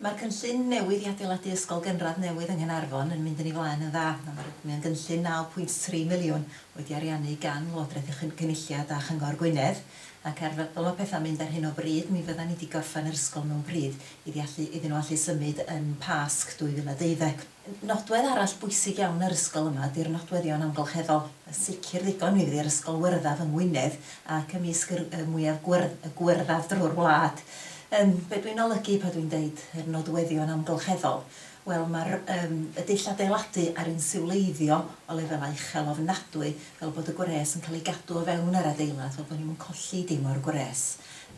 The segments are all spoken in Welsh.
Mae'r cynllun newydd i adeiladu ysgol gynradd newydd yng Nghaernarfon yn mynd yn ei flaen yn dda. Mae'n gynllun 9.3 miliwn, wedi ariannu gan Lywodraeth y Cynulliad a Chyngor Gwynedd, ac ar fel mae pethau'n mynd ar hyn o bryd, mi fyddan ni 'di gorffen yr ysgol mewn pryd iddi allu, iddyn nhw allu symud yn Pasg 2012. Nodwedd arall bwysig iawn yr ysgol yma ydy'r nodweddion amgylcheddol. Yn sicr ddigon, mi fydd yr ysgol wyrddaf yng Ngwynedd ac ymysg yr y mwyaf gwyrdd, y gwyrddaf drwy'r wlad. Yym, be' dwi'n olygu pan dwi'n deud yr nodweddion amgylcheddol? Wel, ma'r yym y dull adeiladu a'r insiwleiddio o lefelau uchel ofnadwy, fel bod y gwres yn cael ei gadw o fewn yr adeilad, fel bod ni'm yn colli dim o'r gwres.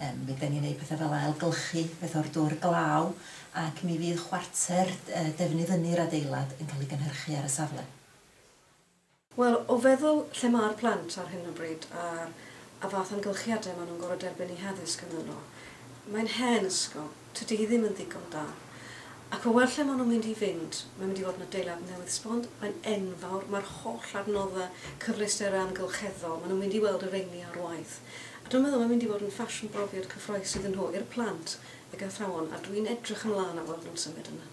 Yym, mi ydan ni'n neud pethe fel ailgylchu peth o'r dŵr glaw, ac mi fydd chwarter defnydd ynni'r adeilad yn cael ei gynhyrchu ar y safle. Wel, o feddwl lle mae'r plant ar hyn o bryd a'r a fath amgylchiadau maen nhw'n gorfod derbyn eu haddysg ynddo nhw, mae'n hen ysgol, tydi hi ddim yn ddigon da. Ac o weld lle maen nhw'n mynd i fynd, mae'n mynd i fod yn adeilad newydd sbon, mae'n enfawr, mae'r holl adnoddau, cyfleusterau amgylcheddol, maen nhw'n mynd i weld y rheini ar waith. A dwi'n meddwl mae'n mynd i fod yn ffasiwn brofiad cyffrous iddyn nhw, i'r plant, ag athrawon a dwi'n edrych ymlaen at weld nhw'n symud yna.